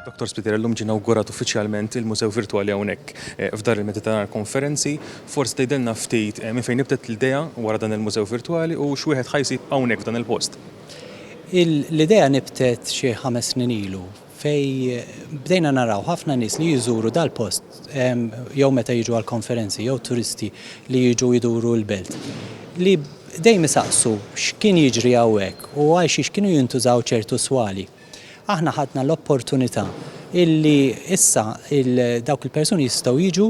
Dr. Spiteri, llum ġie inawgurat uffiċjalment il-Mużew Virtwali hawnhekk eh, f'Dar il-Mediterran Konferenzi. Forsi tgħidilna ftit eh, minn fejn nibtet l-idea wara dan il-Mużew Virtwali u x'wieħed ħajsib hawnhekk f'dan il-post. L-idea nibtet xi ħames snin ilu fej bdejna naraw ħafna nies li jżuru dal-post jew meta jiġu għall-konferenzi jew turisti li jiġu jduru l-belt li dejjem isaqsu x'kien jiġri hawnhekk u għal xiex kienu jintużaw ċertu swali. Aħna ħadna l-opportunità illi issa il dawk il-persuni jistgħu jiġu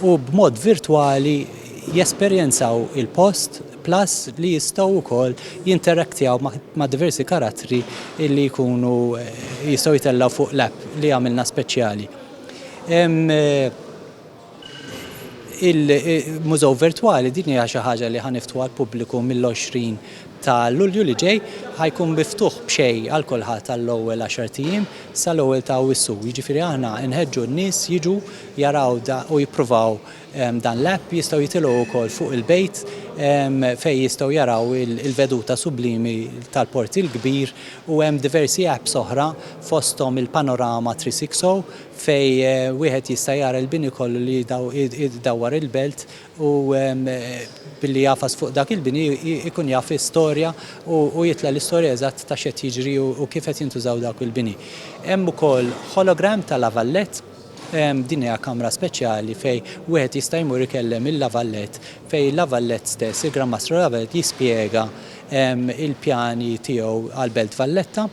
u b'mod virtwali jesperjenzaw il-post plus li jistgħu wkoll jinteraktjaw ma' diversi karattri illi jkunu jistgħu jtellgħu fuq l-app li għamilna speċjali. Il-Mużew Virtwali din hija xi ħaġa li ħa niftħu għall-pubbliku mill-20 ta' Lulju li ġej. Ħa jkun miftuħ b'xejn għal kulħadd għall-ewwel għaxart ijiem sal-ewwel ta' Awwissu. Jiġifieri aħna nħeġġu n-nies jiġu jaraw u jippruvaw Dan l-app jistgħu jitilgħu wkoll fuq il-bejt fejn jistgħu jaraw il-veduta sublimi tal-Port il-Kbir u hemm diversi apps oħra fosthom il-Panorama 360 fejn wieħed jista' jara l-bini kollu li jdawwar il-belt u billi jagħfas fuq dak il-bini jkun jaf l-istorja u jitla' l-istorja eżatt ta' x'qed jiġri u kif qed jintużaw dawk il-bini. Hemm ukoll hologram ta' La Vallette. Din hija kamra speċjali fejn wieħed jista' jmur ikellem il-La Valette fejn il-La Valette stess, il-Gran Mastru La Valette jispjega l-pjani tiegħu għall-Belt Valletta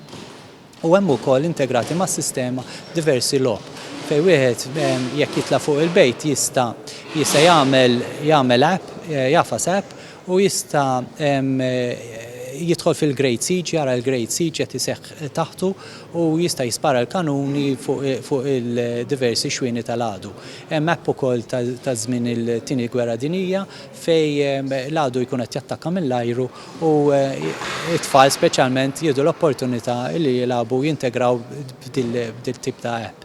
u hemm ukoll integrati mas-sistema diversi logħob fejn wieħed jekk jitla' fuq il-bejt jista' jista' jagħmel jagħmel app, jafas app Hu jista' jidħol fil-Great Siege, jara l-Great Siege qed iseħħ taħtu u jista' jispara l-kanuni fuq il-diversi xwieni tal-għadu. Hemm map ukoll ta' żmien il-Tieni Gwerra Dinjija fejn l-għadu jkun qed jattakka mill-ajru u t-tfal speċjalment jieħdu l-opportunità li jilagħbu u jintegraw b'dil-tip ta' app.